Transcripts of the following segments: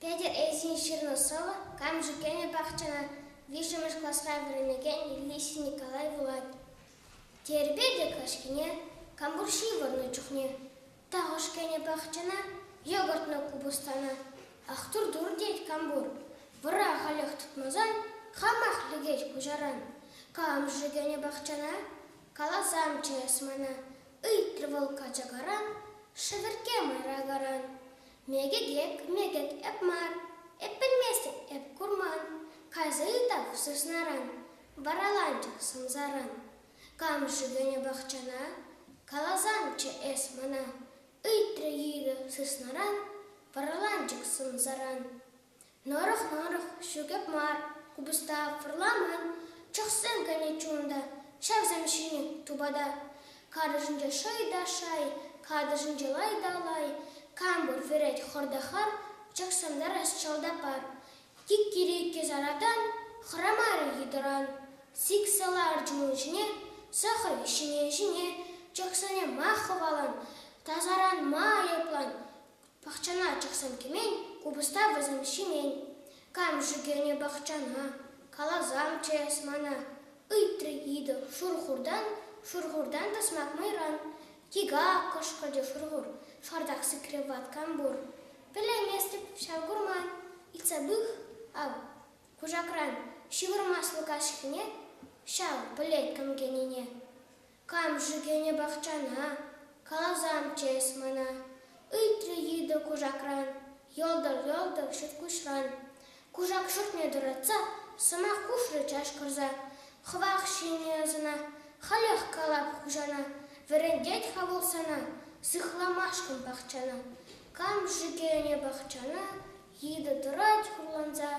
Петӗр Ильин ҫырнӑ сӑвӑ Камҫу кӗнӗ пахчана виҫҫӗмӗш класра вӗренекен Ильич Николай вулать. Терпе те каҫкине, кампур ҫывӑрнӑ чухне, тахӑш кӗнӗ пахчана йӑкӑртнӑ купӑстана. Ах, тур-тур тет кампур, вӑра халех тытмасан хамах лекет куҫаран. Камҫу кӗнӗ пахчана Каласамчӗ эс мана, ыйтрӗ вӑл качакаран, шӗвӗркке мӑйракаран. Мекӗтек, мекӗт эп мар, эп пӗлместӗп эп курман, кайса ытах сыснаран, вараланчӑк сӑмсаран. Кам-ши кӗнӗ пахчана? Каласамчӗ эс мана, ыйтрӗ йытӑ сыснаран, вараланчӑк сӑмсаран. Нӑрӑх-нӑрӑх, ҫӳкӗп мар, купӑста вӑрламан, чӑхсем кӗнӗ чун та, ҫавсем ҫинӗ тупата. Карӑшӗнче шӑй та шай, катӑшӗнче лай та лай. Кам пур вӗрет хӑрта хам, чӑхсантарас чалта пар. Иккӗр-иккӗ саратан хӑрамарӗ йытӑран. Сиксе ларчӗ ун ҫине, сӑхрӗ ҫине-ҫине, чӑхсене ма хӑвалан, тасаран ма айӑплан. Пахчана чӑхсем кӗмен, купӑста вӗсем ҫимен. Кам ҫӳкенӗ пахчана, каласамччӗ эс мана. Ыйтрӗ йытӑ шурхуртан, шурхуртан та сӑмах мӑйран. Тига! кӑшкӑрчӗ шурхур, шартах сикрӗ ваткам пур. Пӗлейместӗп ҫав курма. Ыйтса пых, ав, кушакран ҫывӑрмаслӑ каҫхине ҫав пӗлет кӗм кӗнине. Кам-ши кӗнӗ пахчана? Каласамччӗ эс мана, ыйтрӗ йытӑ кушакран, йӑлтӑр-йӑлтӑр ҫурткуҫран. Кушак шутне тӑратса сӑмах хушрӗ чашкӑрса. Хӑвах ҫине ӑсана, халех калап хуҫана, вӗрентет-ха вӑл сана сыхламашкӑн пахчана. Кам-ши кӗнӗ пахчана? Йытӑ тӑрать хурланса,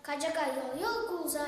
качака йӑл-йӑл кулса.